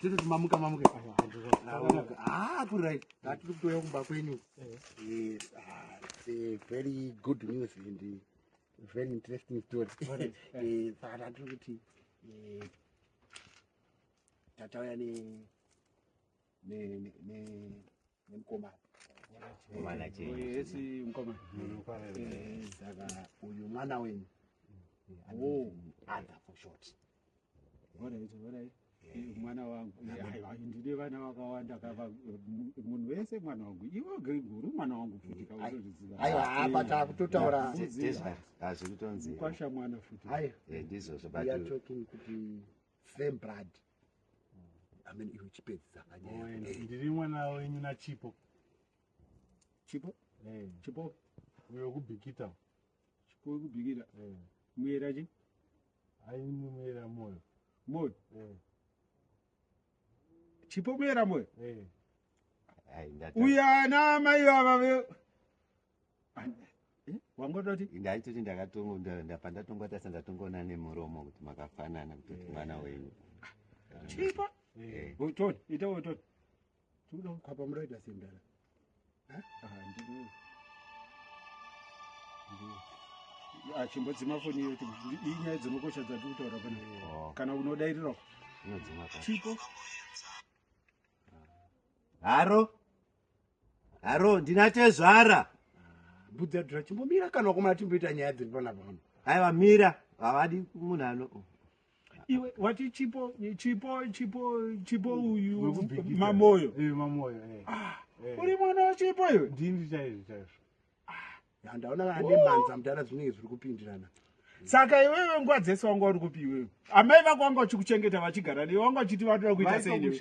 tototi mamuka mamuka ah, kuri right ah, tiri kutouya kumba kwenyu eh. Eh, very good news and eh, very interesting story saka tiri kuti tatauya ne uyu mwana wenyu adha for short mwana wangu ndine vana vakawanda kava munhu wese mwana wangu ivo greguru mwana wangu futi kaaiwa takutotaura hazviri tonzikwasha mwana futi ndizvozvo kuti same blood amen iwe chipedzisa kanyaya ndiri mwana wenyu nachipo chipo eh chipo uyo kubikita chipo kubikita eh muyera chi ayi muyera moyo moyo eh chipo muyera moyo eh ayi ndati uya na mai baba Eh, wangototi ndaitoti ndakatongo nda- nda- pandatongwa tasa ndatongoona nemuromo kuti makafanana kuti kuti mwana wenyu chipa Eh. utoni ita utoni tikuda kukhapa muraita sendala achimbodzima foni iyo kuti ndi- inyaya dzinokosha dzati kutaura pana Oh. kana unodairirawo inodzima pa chipo haro haro ndina tezvara ah, budzadura chimbomira kana wakomana timboita nyaya dziri pana pano aiwa mira havadi munhu ano iwe wati chipo chipo chipo chipo uyu mamoyo eh, mamoyo eh. Ah, eh. uri mwana wachipo iwe ndini chaizvo chaizvo handaona kana nemhanza mudhara zvinenge zviri kupindirana saka iwewe nguva dzese wanga uri kupi iwewe amai vako vanga vachikuchengeta vachigara nei vanga vachiti vatoda kuita sei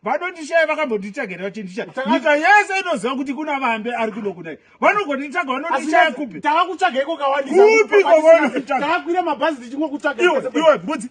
vanondishaya vakambonditsvagera vachindisha nyika yese inoziva kuti kuna vambe ari kuno kudai vanogonditsvaga vanondishaya kupi tava kutsvaga iko kawandisakupi kovanotaakwira mabhazi tichingokutsvaga iwe mbudzi